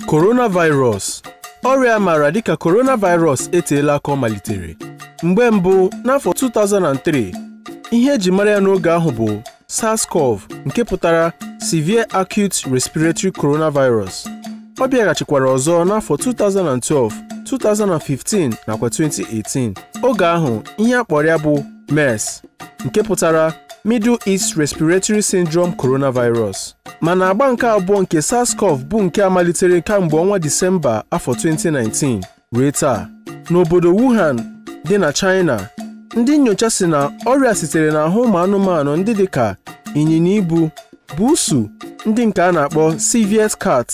coronavirus ọrịa a maara dịka coronavirus eteela aka ọ malitere mgbe mbụ n'afọ 2003 ihe e ji mara ya n'oge ahụ bụ SARS-CoV nke pụtara Severe Acute Respiratory Coronavirus ọ bịaghachikwara ọzọ n'afọ 2012 2015 nakwa 2018 oge ahụ ihe a kpọrọ ya bụ MERS nke pụtara Middle East Respiratory Syndrome Coronavirus mana agba nke abụọ nke SARS-CoV bụ nke a malitere kamgbe ọnwa Disemba afọ 2019 ruo taa n'obodo Wuhan dị na China ndị nnyocha sị na ọrịa a sitere n'ahụ ụmụ anụmanụ ndị dị ka ịnyịnya ibu buusu ndị nke a na-akpọ civet cat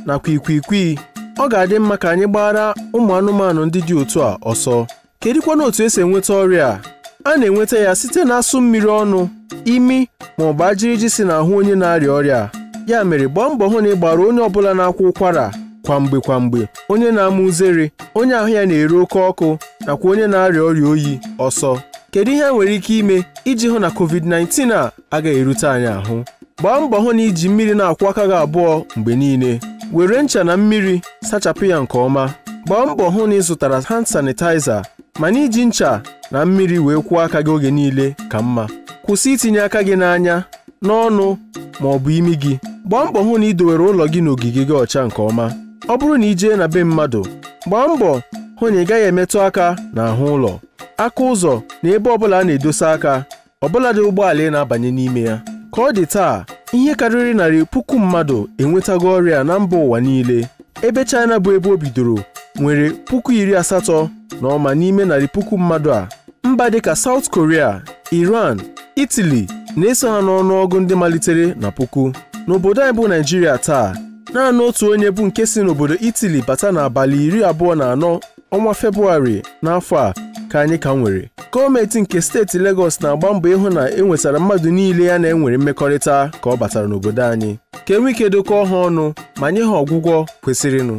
nakwa ikwikwii ọ ga-adị mma ka anyị gbaara ụmụ anụmanụ ndị dị otu a ọsọ kedụkwanụ otu e si enweta ọrịa a a na-enweta ya site n'asụ mmiri ọnụ imi ma ọ bụ ajiriji si n'ahụ onye na-arịa ọrịa a ya mere gbaa mbọ hụ na ị gbaara onye ọbụla na-akwa ụkwara kwa mgbe kwa mgbe onye na-ama uzere onye ahụ ya na-ere oke ọkụ nakwa onye na-arịa ọrịa oyi ọsọ kedu ihe a nwere ike ime iji hụ na covid-19 a agaghị erute anyị ahụ gbaa mbọ hụ na i ji mmiri na-akwụ aka gị abụọ mgbe niile were ncha na mmiri sachapụ ya nke ọma gbaa mbọ hụ na ị zụtara hand sanitizer mana iji ncha na mmiri wee kwụọ aka gị oge niile ka mma kwụsị itinye aka gị n'anya n'ọnụ ma ọ bụ imi gị gbaa mbọ hụ na ị dowere ụlọ gị na ogige gị ọcha nke ọma ọ bụrụ na ị jee na be mmadụ gbaa mbọ hụ na ị gaghị emetụ aka n'ahụ ụlọ aka ụzọ na ebe ọbụla a na-edosa aka ọbụladị ụgbọala ị na-abanye n'ime ya ka ọ dị taa ihe karịrị narị puku mmadụ enwetago ọrịa a na mba ụwa niile ebe China bụ ebe o bidoro nwere puku iri asatọ na ụma n'ime narị puku mmadụ a mba dịka South Korea Iran Italy na-eso ha n'ọnụọgụ ndị malitere na puku n'obodo anyị bụ Naịjirịa taa naanị otu onye bụ nke si n'obodo Italy bata n'abalị iri abụọ na anọ ọnwa Febụwarị n'afọ a ka anyị ka nwere gọọmentị nke steeti Lagos na-agba mbọ ịhụ na e nwetara mmadụ niile ya na ha nwere mmekọrịta ka ọ batara n'obodo anyị ka e nwee ike dokọọ ha ọnụ ma nye ha ọgwụgwọ kwesịrịnụ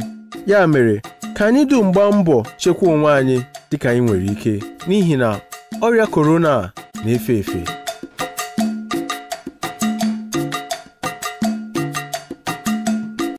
ya mere ka anyị dum gbaa mbọ chekwa onwe anyị dịka anyị nwere ike n'ihi na ọrịa korona na-efe efe